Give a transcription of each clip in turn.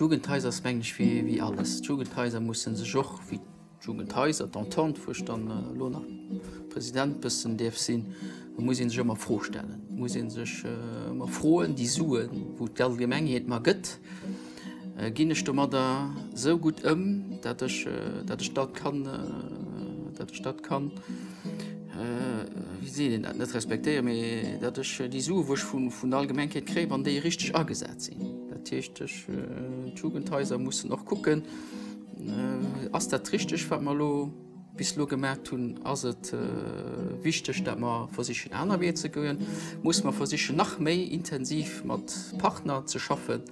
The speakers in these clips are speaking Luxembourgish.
D'Jugendhaus ass mengen ech wéi wéi alles. D'Jugendhaiser musse sech och wéi d'Jugendhaiser, d'Entente, wou ech dann elo nach President bëssen däerf sinn, da muss ee sech ëmmer Froe stellen, muss ee sech ëmmer froen, déi Suen, wou d'Allgemengheet mar gëtt, Ginn ech domadder esou gutt ëm, datt ech datt ech dat kann datt ech dat kann wéi seet een dat net respektéieren, mee datt ech déi Sue wou ech vun vun der Allgemengkeet kréien, wann déi richteg agesat sinn. Dat heescht ech d'Jugendhaiser mussen och kucken, ass dat richteg wat mer elo bis elo gemaacht hunn, ass et wichteg dat mer versichen aner Weeër ze goen, muss mer versichen nach méi intensiv mat Partner ze schaffen,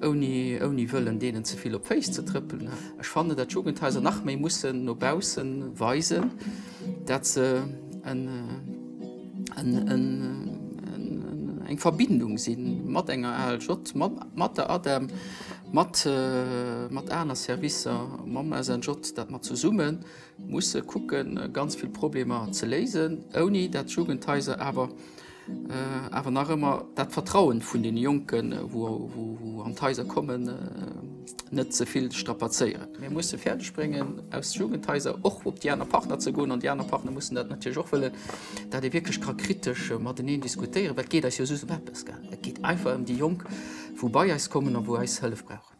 ouni wëllen deenen ze vill op d'Féiss ze trëppelen. Ech fannen, dat d'Jugendhaiser nach méi mussen no bausse weisen, dat se eng Verbindung si mat enger ALJ, mat der ADEM, mat aner Servicer, mam SNJ, dat mer zesumme musse kucke ganz vill Problemer ze léisen, ouni dat d'Jugendhaiser awer Awer nach ëmmer dat Vertrauen vun deene Jonken, wou an d'Haiser kommen, net ze vill strapazéieren. Mir musse fäerdeg bréngen, aus Jugendhaiser och op déi aner Partner ze goen, an déi aner Partner mussen dat natierlech och wëllen, dat ee wierklech ka kritesch mateneen diskutéieren, well et geet eis jo soss ëm eppes. Et geet einfach ëm déi Jonk, wou bei eis kommen a wou eis Hëllef brauchen.